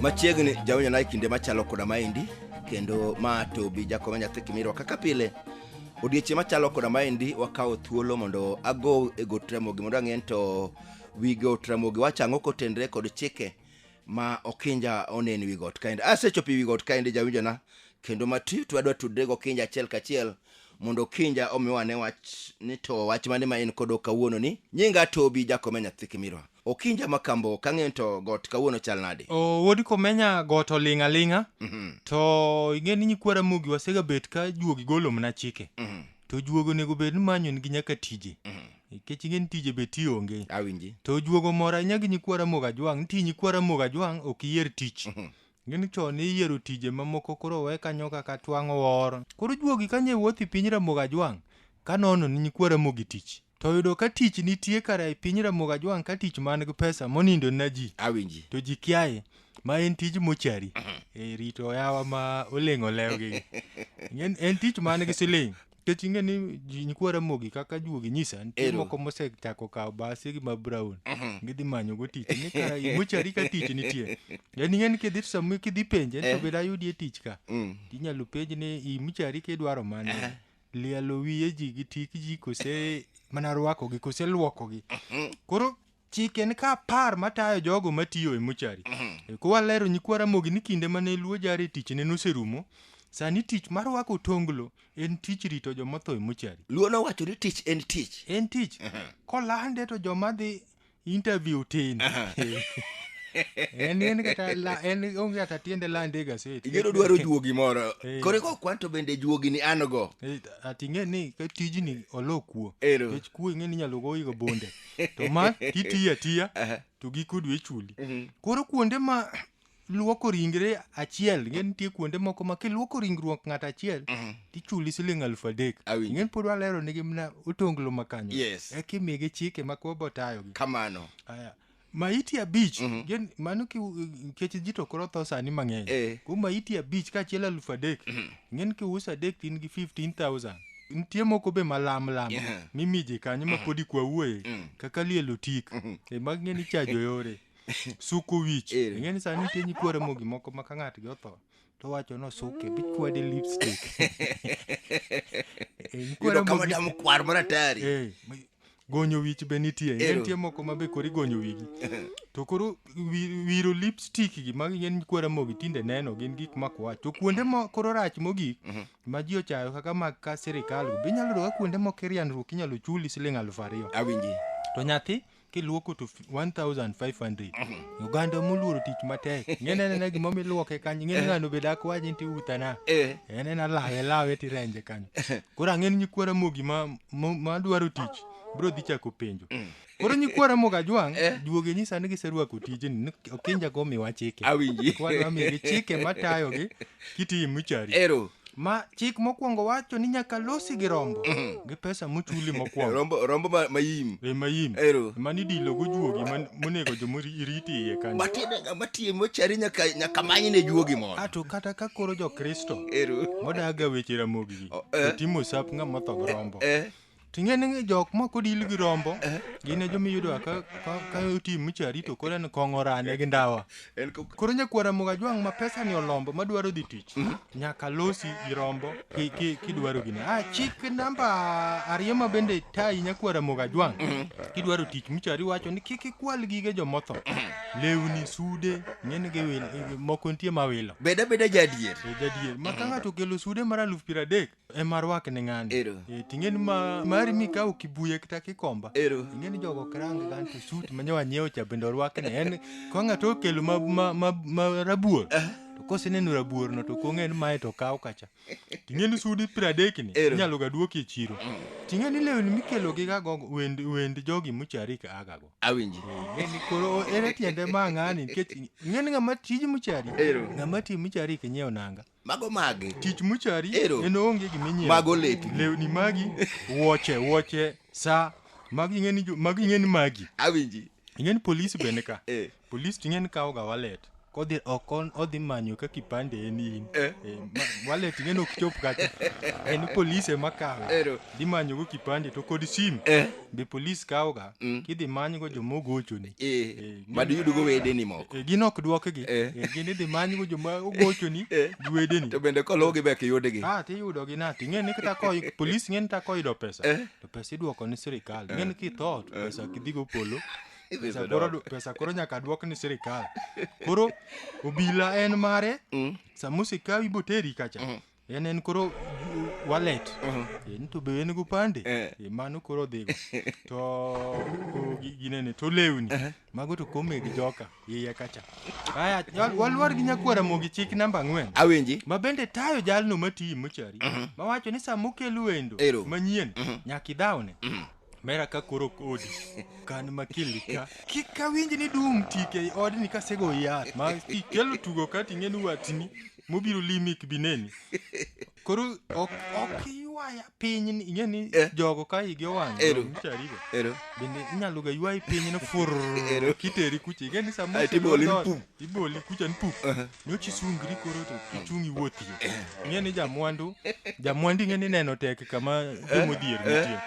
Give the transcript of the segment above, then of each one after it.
machiegni jaonyona e kinde machalo koda maendi kendo ma to bi jakoma nyathi kimirwa kaka pile odiechieng' machalo koda maendi wakawo thuolo mondo ago e got ramogi mondo ang'e ni to wi got ramogi wacho ang'o kotenre kod chike ma okinja onen wi got kaendi asechopo wi got kaendi jawinjona kendo mati to adwa tudre gi okinja achiel kachiel mondo okinja omiwa ne wach ni to wach mane ma en kodo kawuono ni nyinga tobi jakome nyathi kimirwa okinja makambo kang'eyo to got kawuono chal nade o wuod komenya got oling' aling'a Mhm, to ing'e ni nyikwa ramogi wasegabet ka juogi golo mana chike mhm, to juogi onego bed ni manyo nigi nyaka tije mhm. nikech ing'e ni tije be ti onge awinji to juogo moro ahinya gi nyikwa ramogi ajwang' nitie nyikwa ramogi ajwang' ok iyier tich gini chon iyiero tije mamoko koro we kanyo kaka twang'o wor koro juogi kanye wuoth i piny ramogi ajwang' ka nono ni nyikwa ramogi tich to oyudo ka tich nitie kara e piny ramogi ajwang' ka tich man gi pesa monindo na ji awinji to ji kiaye ma en tij mochari e rito oyawa ma oleng' olewgi en, en tich man gi siling Nikech ing'e ni ji- nyikwa Ramogi kaka juogi nyisa nitie Ero. moko mosechako kawo basi gi ma brown gidhi manyogo tich ni ka mochari ka tich nitie yani ing'e ni kidhi to sama kidhi penje to bed ayudie tich ka Mm. inyalo penj ni i mochari kidwaro mane lielo wiye ji gi tik ji kose mana rwakogi kose lwokogi koro chik en ka apar matayo jogo matiyo e mochari E, kwalero nyikwa ramogi ni kinde mane luo jare tichne noserumo sani tich mar rwako tonglo en tich rito joma otho e mochari luo nowacho ni tich en tich en tich kolande to joma dhi interview tin en en kata la- en onge kata tiende lande e gaset igeno dwaro juogi moro Eh. kore ko kwan to bende juogi ni an go Eh, ati ing'e ni ka tijni olo kuo Ero. nikech kuo ing'e ni inyalo goyigo bonde to ma kitiyo atiya Aha. to giko dwe chuli Mhm. koro kuonde ma luoko ringre achiel ing'e nitie kuonde moko ma kiluoko ringruok ng'ato achiel Mhm. tichuli siling alufu adek Awinjo. ing'e pod walero nigi mna otonglo makanyo Yes. eka imigi chike ma koro botayogi kamano Aya. maiti abich Mhm. gin- mano ki- nikech ji to koro tho sani mang'eny Eh. ko maiti abich kaachiel alufu adek ing'e ni kiuso adek to in gi 15000 nitie moko be malam lam Yeah. mimiji kanyo ma podi kwa wuoye Mm. kaka lielo tik e mag ng'e ni chajo yore suko wich Ere. ing'e ni sani nitie nyikwere mogi moko ma ka ng'atgi otho to wacho no suke bikwade lipstick Eh, nyikwere Yudo kama mogi- damu kwar maratari. Eh, gonyo wich be nitie ing'e Ero. nitie moko ma be koro igonyo wigi to koro wi- wiro lipstick gi ma gin kwara mogi tinde neno gin gik makwach to kuonde ma koro rach mogik ma ji ochayo kaka mag ka sirikal go be inyalo yudo ka kuonde moko irianruok inyalo chuli siling aluf ariyo awinji to nyathi kiluoko to 1500 oganda moluoro tich matek ng'ene nena gima miluoke kanyo ng'ene ng'ano be dak waji nti utana Eh. en en alawe lawe tirenje kanyo koro ang'en nyikwara mogi ma ma- madwaro tich bro dhi chako penjo koro nyikwara moga jwang' duoge nyisa ni giserwako tijni ni okinja go miwa chike Awinji. Kwadwa migi chike matayogi kitiyi muchari ero ma chik mokwongo wacho ni nyaka losi gi rombo gi pesa muchuli mokwongo rombo rombo ma- mayim e mayim Ero. mani dilo gojuogi man- monego jomoriti iye kanyo matiende ng'ama tiye mochari nyaka nyaka manyne juogi mondo ato kata ka koro jokristo ero modaga weche ramogi O, eh. to timo sap ng'ama otho gi rombo eh Ting'e ni jok ma kodil gi rombo gin e joma iyudo ka ka ka otim micha rito kore ni kong'o rane gi ndawa. En ko- Koro nyakwara moga jwang' ma pesa ni olombo ma dwaro dhi tich. Nyaka losi gi rombo ki ki kidwaro gini. Ah chik namba ariyo ma bende tayi nyakwara moga jwang'. Kidwaro tich micha riwacho ni kik ikwal gige jomotho. Lewni, sude, ng'eni gi wil moko nitie ma wilo. Beda beda jadier. E jadier. Ma ka ng'ato okelo sude mar aluf piero adek, ema rwakne ng'ani Ero. Eh, ting'eni ma mari mikawo kibuye kata kikomba Ero. ing'eni jogo ok rang gan to sut ma nyawa nyiewo cha bende orwakne en ka ng'ato okelo ma, ma, ma, ma rabuor to koseneno rabuorno to kong'e ni mae to kaw kacha ting'eni sudi piero adekni Ero. inyalo ga duoki e chiro ting'eni lewni mikelo gi gago wend, wend jogi muchari ka agago Awinji. Ng'eni koro ere tiende ma ng'ani nikech ing'eni ng'ama tij muchari Ero. ng'ama ti muchari kinyieo nanga Mago magi. Tich muchari Ero. en onge gima inyiewo. Mago lepi. Lewni magi, wuoche, wuoche, sa. Magi ing'eni jo- magi ing'eni magi. Awinji. Ing'eni polisi bende ka. Eh. Polisi to ing'eni kawoga wallet. Kodhi ok on- odhi manyo ka kipande en in. Eh. Eh, ma- wallet ing'eni ok chop kacha. En polisi ema kawe. Ero. dhi manyogo kipande to kod sim Eh. be polis kawoga Mm. kidhi manygo joma ogochoni Eh, Eh, mad yudugo wedeni moko Eh, gin ok dwokgi Eh. Eh, gin idhi manygo joma ogochoni Eh. gi wedeni to bende koluwgi be kiyudgi Ah, tiyudogi na ting'e ni kata koy polis ng'e ni ta koyudo pesa Eh. to pesa idwoko ni sirikal ng'e ni kitho to pesa kidhigo polo Idhi pesa yudo. koro, pesa koro nyaka dwok ni sirikal koro obila en mare Mm. sama osekawi boteri kacha en en koro wallet en to be en gopande Eh. Eh, mano koro dhigo to o, gi- ginene to lewni mago to kome gi joka iye kacha aya wal- walwar gi nyakwara mogi chik namba ang'wen awinji ma bende tayo jalno matiyi mochari mawacho ni sama okel wendo Ero. manyien nyaka idhawne Mera ka koro kodi kan makili ka kik awinj ni dum tike i odni kasego yath ma ikelo tugo ka ting'eni watni mobiro limi kibineni koro ok ok iywaya piny ni- ing'e ni Eh. jogo ka igi owang' Ero. charigo Ero. bende inyalo ga ywayi piny no fur Ero. kiteri kucha ing'e ni Ae, samose tiboli ni pum. iboli kucha ni pum Aha. nyochi sungri koro to ichung' iwuothie ing'e ni jamwandu jamwandu ing'e ni neno tek kama jomodhier nitie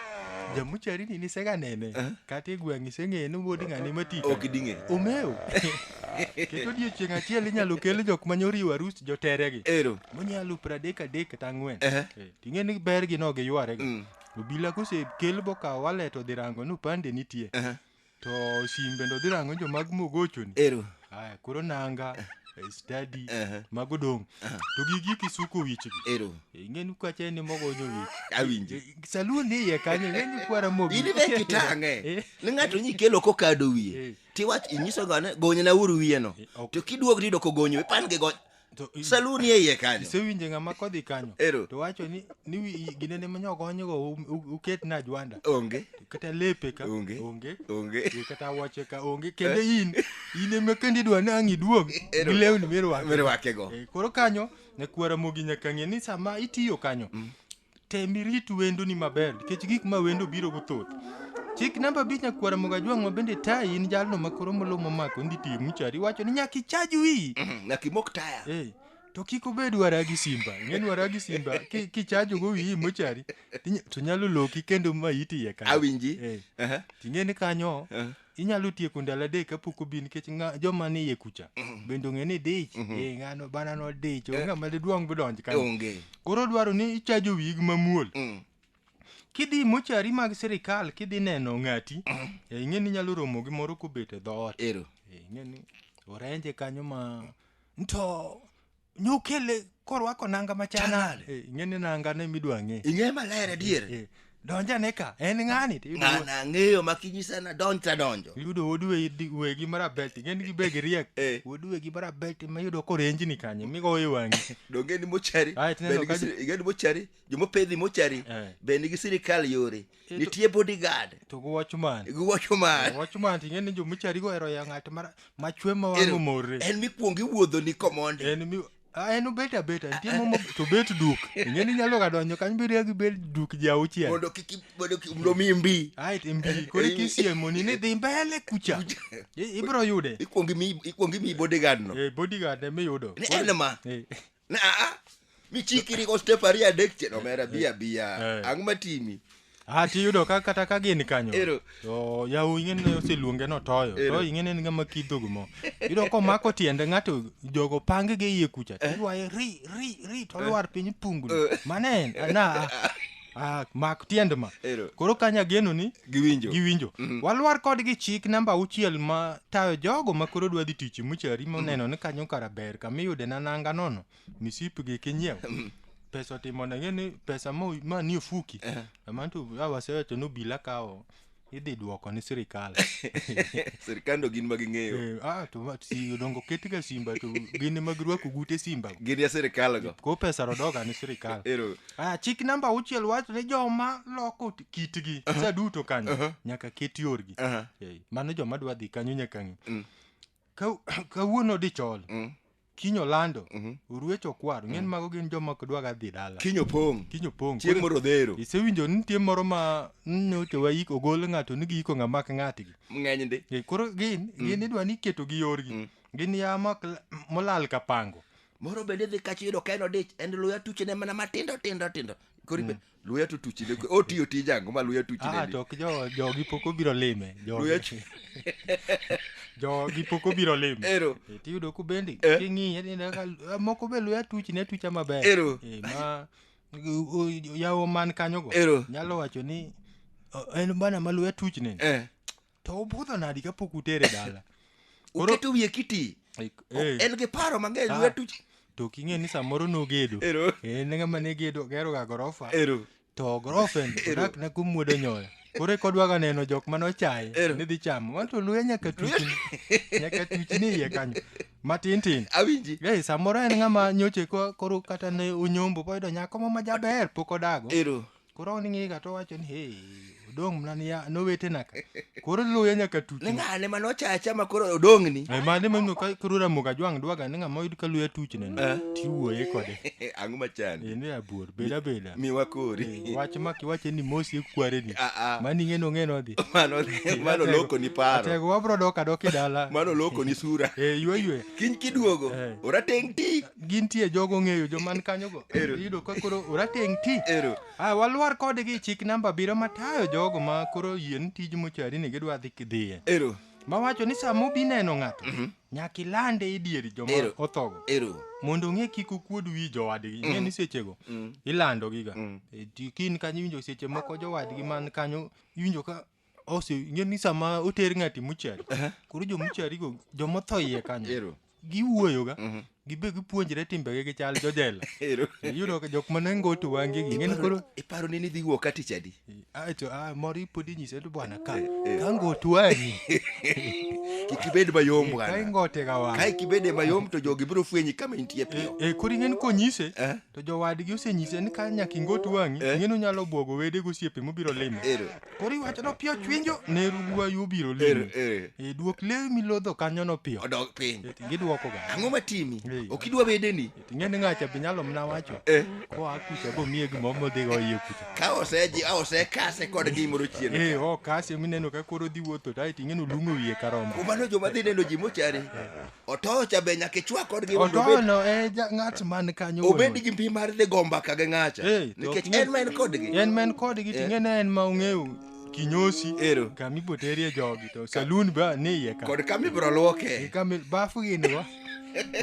jamucharini nisega nene kata e gweng' iseng'eye ni wuod ng'ani matika ok ding'e omeo keto odiechieng' achiel inyalo kel jok ma nyoriwo arus joteregi ero monyalo pradek adek kata ang'wen Ehe. Eh, ting'e ni bergi no giyware Mm. obila kosekel bokawo walet odhi rango ni upande nitie Ehe. To simbe ndo dhi rango jo mag mogochoni. Ero. Aya, koro nanga eh, study Aha. mago dong. To gigi kisuko wichgi. Ero. Ingeni kwache ni mogonyo wich. Awinje. Saluni iye kanyo ingeni kwara mogi. In be kitang'e. Eh. Ni ng'ato nyi kelo kokado Eh. wiye. Tiwach inyiso gane gonyna uru wiyeno. Eh, ok. To kiduog rido kogonyo pan gi gony. To i- salu ni e iye kanyo isewinje ng'ama kodhi kanyo Ero. to wacho ni ni wi- gine ne manyo konyogo u- u- uket na jwanda onge kata lepe ka Onge. onge onge Yo kata wache ka onge kendo in in ema kendo idwa ni ang' iduog Ero. gi lewni mirwako mirwakego Eh, koro kanyo nyakwara mogi nyaka ng'e ni sama itiyo kanyo tem irit wendoni maber nikech gik ma wendo biro go thoth chik namba abich nyakwara mogajwang' ma bende tayi in jalno ma koro molo momako ndi tiyo muchari iwacho ni nyaka ichaj wiyi nyaka imok taya Eh, to kik obed wara gi simba ing'e ni wara gi simba ki- kichajogo wiyi mochari tinya- to nyalo loki kendo ma iti iye kanyo. Awinji. Eh, Aha. ting'e ni kanyo Eh. inyalo tieko ndalo adek kapok obi nikech ng'a- joma ni iye kucha bende ong'e ni dich eh, ng'ano bana no dich onge ng'ama didwong bidonj kanyo onge koro dwaro ni ichajo wig mamuol Mm. kidhi mochari mag sirikal kidhi neno ng'ati eh, ing'e ni inyalo romo gi moro kobet e dhoot ero Eh, ing'e ni orenje kanyo ma nto Nokele korwako nanga machal Chal nade? nade? Eh, Ing'e ni nanga ne midwa ng'e. ing'e maler adier Eh, Donjane ka, en ng'ani? to iyudo- ng'ana ang'eyo makinyisa na donj tadonjo Iyudo wuod wegi- wegi marabet, ing'e ni gibed riek. Eh. Wuod wegi marabet ema iyudo korenjni kanyo, migowo e wang'i. donge ni mochari Ah, tineno be nigi ka- siri- ing'e ni mochari jomopedhi mochari Eh. be nigi sirikal yore nitie bodyguard to gi watchman gi watchman watchman ting'e ni jomichari go ero ya ng'at ma chwe ma wang' omorre en mikwongo iwuodho ni komond en mi en obet abet nitie momo to bet duk ing'e ni nyalo ga donjo kanyo bedo gi bet duk ji auchiel mondo kik mondo kik mondo mi mbi ai ti mbi kore kisiemo ni ni dhi mbele kucha ibro yude ikwongi mi ikwongi mi bodyguard no eh bodyguard e mi yudo en ma Na, ah, michikiri ko step ariyo adek chien omera bi abiya Eh. ang' matimi Ah, tiyudo ka kata ka gin kanyo Ero. to yawu ing'eni oseluonge notoyo Ero. to ing'eni en ng'ama kidhogo mo iyudo komako tiende ng'ato jogo pange gi iye kucha to ywaye ri ri ri to lwar piny pungni mane en na Ah, mak tiend ma Ero. koro kanya geno ni Giwinjo. giwinjo walwar kodgi chik namba auchiel ma tayo jogo ma koro dwa dhi tich muchari moneno ni kanyo kara ber kama iyude na nanga nono misipgi kinyiew pesa otimo nege ni pesa ma ma ni ofuki amantu awasewacho ni obila kawo idhi duoko ni sirikal sirikando gin ma ging'eyo Eh, ah, to ma- si dongo ketga simba to gin ema girwako gute simba gin ya sirikal go ko pesa rodoga ni sirikal ero Ah, chik namba auchiel wacho ni joma loko t- kitgi sa duto kanyo nyaka ket yorgi Aha. Eh, mano joma dwa dhi kanyo nyaka ng'i Mm. Ka- kawuono dichol Mm. kinyo lando Mhm. oruecho kwaro ng'en mago gin joma ok dwaga dhi dala Kinyo pong'. kinyo pong' Chieng' moro dhero. isewinjo ni nitie moro ma nyocha waik ogol ng'ato ni giiko ng'ama ok ng'atgi Ng'eny ndi. Eh, koro gin gin idwa ni iketo gi yorgi Mm. gin ya ma ok la- molal ka pango Moro bende dhi kacho yudo ka en odich. En luya tuchene mana matindo tindo tindo. Koro ibe- luya to tuchi ne otiyo tij ango ma luya tuchi ne ah, to ok jo jogi pok obiro lime luya jogi pok obiro lime ero e, tiyudo ku bendi eh? king'iye ni ah, moko be luya tuchi ne tucha maber ero e, ma yawo man kanyo go ero nyalo wacho ni en bana ma luya tuchi ne eh. to obudho nadi kapok utere dala Koro- uketo wiye kiti Like, O- eh, en gi paro mang'eny Ah. lwetu to ok ing'e ni samoro nogedo Ero. en ng'ama ne gedo geroga gorofa ero to gorofen odak na kumwodo nyoyo koro e kodwaga neno jok mane ochaye Ero. ni dhi chamo wan to luya nyaka tuchni nyaka tuchni iye kanyo matin tin awinji Ei, samoro en ng'ama nyoche ko- koro kata ne onyombo boyudo nyako mo majaber pok odago ero koro on ing'ega to wacho ni hey odong' mna ni ya- nowetena ka koro luya nyaka tuti ni ng'ane mane ochacha ma koro odong'ni Eh, mane mano ka koro ramoga jwang' dwaga ni ng'ama oyud ka luya tuchne Eh. tiwuoye kode ang'o machandi en e abuor beda beda miwa kori wach ma kiwache ni mosi ekwareni Ah, ah. mani ng'eno ng'eno dhi mano mano loko ni paro atego wabro dok adok e dala mano loko ni sura Eh, ywe ywe kiny kiduogo Eh. orateng' ti gintie jogo ng'eyo joman kanyogo Ero. iyudo ka koro orateng' ti Ero. Ah, walwar kodgi chik namba abiriyo matayo jogo ma koro yien tij mochari ni gidwa dhi kidhiye Ero. mawacho ni sama obi neno ng'ato nyaka ilande e dier joma Ero. othogo Ero. mondo ong'e kik okuod wi jowadgi ing'e ni sechego ilandogiga E ti- kin kanyo iwinjo seche moko jowadgi man kanyo iwinjo ka Ose, ing'e ni sama oter ng'ati muchari, koro jo mucharigo, joma otho iye kanyo, Ero. giwuoyoga, gibe gipuonjre timbegi gi chal jojela. Ero. Iyudo ka jok mane ngoto wangegi, ing'e ni koro Iparo ni nidhi wuok kati chadi? acho ah, moro ipod inyise to bwana ka ka ngoto wang'i Kik ibed mayom ka bwana. ingote ga Ka wang'i ik ibede mayom to jogi biro fwenyi kama intie piyo. e koro ing'e ni konyise Eh. to jowadgi osenyise ni ka nyaka ingot wang'i Eh. ing'e ni onyalo bwogo wede gosiepe mobiro limo Ero. Koro iwacho ni opiyo chwinjo ne ruwayu obiro Ere, limi. ere. E duok lewi milodho kanyo no piyo. Odog piny. E, Gidwoko ga. Ang'o matimi? Ee. Ok idwa bedeni? Ing'e ni ng'acha be nyalo mna wacho. Eh. Koa kucha bo miye gimoro modhi go iye kucha. Ka oseji, a osekase kod gimoro chien. E o kasi mineno ka koro dhi wuotho to aeto ing'e ni olung'o wiye karombo. Kumano joma dhi neno ji mochari. otoyo cha be nyaka ichwa kodgi mondo obed- otoyono e ja- ng'at man kanyo wuon obed ot. gi mpi mar dhi go mbaka gi ng'acha Eh, to nikech ok en ma en kodgi en ma en kodgi to Eh. ing'e ni en ma ong'eyo kinyosi Ero. kama ibiro terie jogi to salun be ni iye ka kod kama ibiro lwoke kama bafu gin go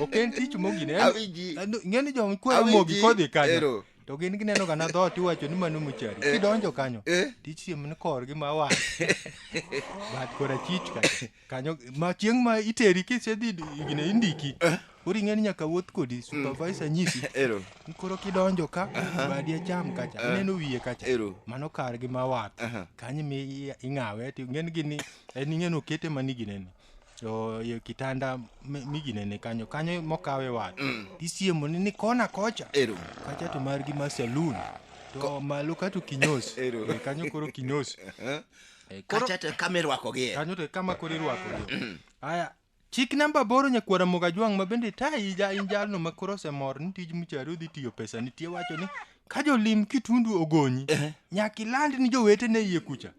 ok en tich mogine En- Awinji. en- ing'e ni joma kwero Awinji. mogi kodhi kanyo Ero. to gin gineno kana dhoot iwacho ni mano mochari Eh. kidonjo kanyo Eh. tich siem ni korgi ma wang' bat kora chich ka kanyo ma chieng' ma iteri kisedhi gine indiki koro ing'eni nyaka wuoth kodi supervisor nyisi Ero. ni koro kidonjo ka badi acham kacha Aha. ineno wiye kacha Ero. mano kar gi ma wath Aha. kanyo mi i- ing'awe ti ng'en gini en ing'en okete mani ginene to e kitanda mi- miginene kanyo kanyo mokawe wath Mm. tisiemo ni ni kona kocha Ero. kacha to margi ma saloon to malo kato kinyos Ero. Eh, kanyo koro kinyos Eh? Eh, koro- kacha to kama irwakogie kanyo to kama koro irwakogi aya chik namba boro nyakwara mogajwang' ma bende tayi ja in jalno ma koro osemor ni tij muchari odhi tiyo pesa nitie wacho ni ka jolim kitundu ogonyi nyaka iland ni jowetene iye kucha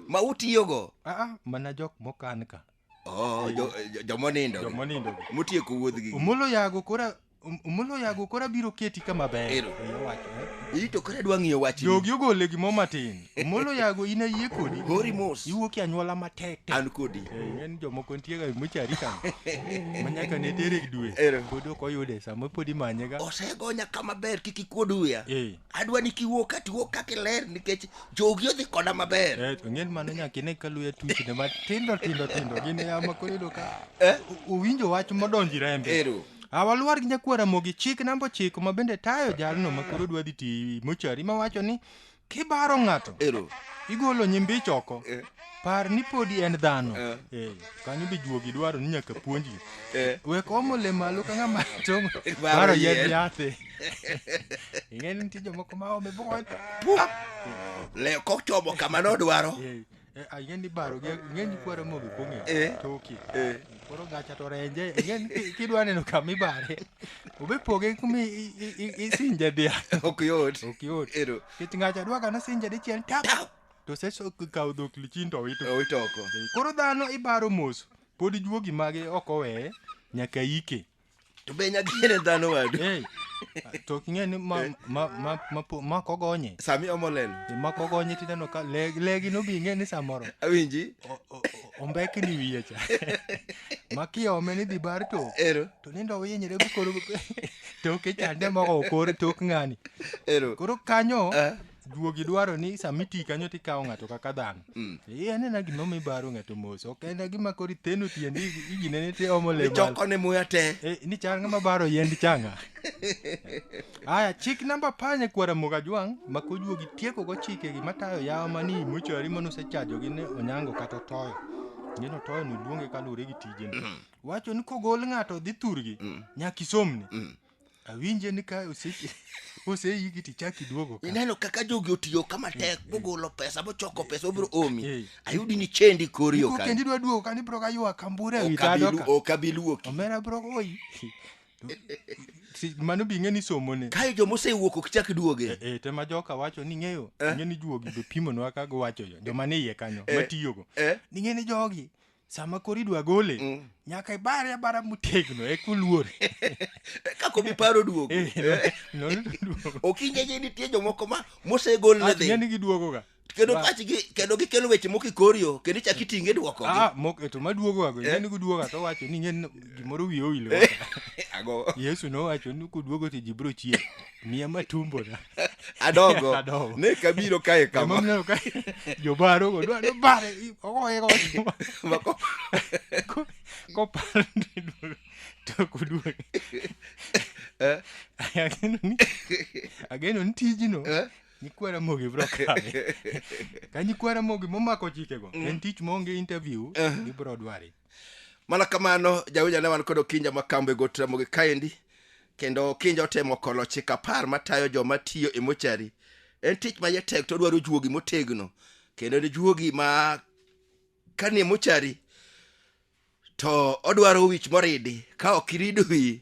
ma utiyogo aa mana jok mokan ka Oh, jo- jo- jomonindo gi. jomonindo gi. motieko wuodhgi omolo yago kora Om- omolo yago kora biro keti kama ber Ero. Oya wacho, eh. iyi to koro adwa ng'iyo wachni jogi ogole gimo matin omolo yago in ayie kodi hori mos iwuok e anyuola matek tek an kodi Eh, en jomoko nitiega mochari kan manyaka ne tere dwe Ero. pod ok oyude sama pod imanyega osegonya kama ber kik ikuod wiya Eh, adwa ni kiwuo ka tiwuo kaka iler nikech jogi odhi koda maber Eh, to ng'en mano nyaka ine ka luya tuchne matindo tindo tindo gin yama koro yudo ka Eh? o- owinjo wach modonji rembe Ero. awalwar gi nyakwar ramogi chik namba ochiko ma bende tayo jalno ma koro dwa dhi ti mochari ma wacho ni kibaro ng'ato ero igolo nyimbich oko Eh. par ni podi en dhano Eh. Eh, kanyo be juogi dwaro ni nyaka puonji Eh. wek omo le malo ka ng'ama tomo Baro baro yien. yedh yathe ing'e ni nitie jomoko ma ome bony leo kochomo kama nodwaro Eh, eh, ah, ing'e ni baro gi- ing'e ni kwaro mogo kong'e Eh. toki Eh. koro gacha to renje ing'e ni ki- kidwa neno kama ibare obe poge kumi i- i- i- isinje dhiang' ok yot ok yot Ero. kech ng'acha dwa ka nosinje dichiel tap Tap. to seso kawo dhok lichin to owito owitoko koro dhano ibaro mos pod juogi mage ok oweye nyaka ike to be nyadiene dhano wadu Hey, to king'e ni ma, ma, ma, ma, po- ma kogonye sami omolelo E, ma kogonye tineno ka le- legi no bing'e ni samoro awinji o- o- o- ombekni wiye cha ma kiome ni dhi bar to ero to nindo owinyre bukoro toke chande moko okor tok ng'ani ero koro kanyo Ah. juogi dwaro ni sama iti kanyo to ikawo ng'ato kaka dhano mm. eh, anena gima omi baro ng'ato mos ok en gima koro iteno tiendi iginene ti omo lemchokone muya te eh, ni chal ng'ama baro yend changa aya chik namba panye kwara moga jwang' ma kojuogi tieko go chike gima tayo yawa mani mochari mano osechajogi ne onyango kata otoyo ngeno toyo ni luonge kaluwore gi tijene mm. wacho ni kogol ng'ato dhi thurgi mm. nyaka isomne awinje ni ka ose- oseiki tichak iduogo ka ineno kaka jogi otiyo ka matek mogolo pesa mochoko pesa obiro omi Eh. ayudi ni chendi kori Iko ok kendi dwa duogo ka nibro ka ywa kambure e wi tado abilu- ka ok abiluoki omera bro oyi Si- mano bi ng'e ni somone kae joma osewuok ok chak duoge e tema joka wacho ni ng'eyo ng'e ni juogi be pimonwa ka giwacho yo joma ni iye kanyo matiyogo eh. ni ng'e ni jogi sama koro idwa gole mm. nyaka ibare abara motegno e kuluor kakobi paro duogo eh, eh. okinyeje nitie jomoko ma mosegol ne dhi ng'eni giduogoga kendo pachgi kendo gikelo weche moko ikorio kendo ichak mm. itinge dwoko ah, e to maduogoga go eh. ng'eni giduoga to wacho ni ng'en gimoro wiye owilo ago yesu nowacho ni kuduogo to ji biro chier miya matumbona adogo Adogo. ne kabiro kae kama Emomiyo ka jobarogo dwa nobare ogoye godo Mako- Ko- koparo ni duogo to ok oduoge Eh? ageno ni ageno ni tijno Eh? nyikwa ramogi bro kawe ka nyikwa ramogi momako chikego en tich maonge interview ibro dware mana kamano jawinja ne wan kod okinja ma kambo e got ramogi kaendi kendo okinja otemo kolo chik apar matayo joma tiyo e mochari en tich ma jatek to odwaro juogi motegno kendo en juogi ma kani e mochari to odwaro wich moridi ka ok irido wiyi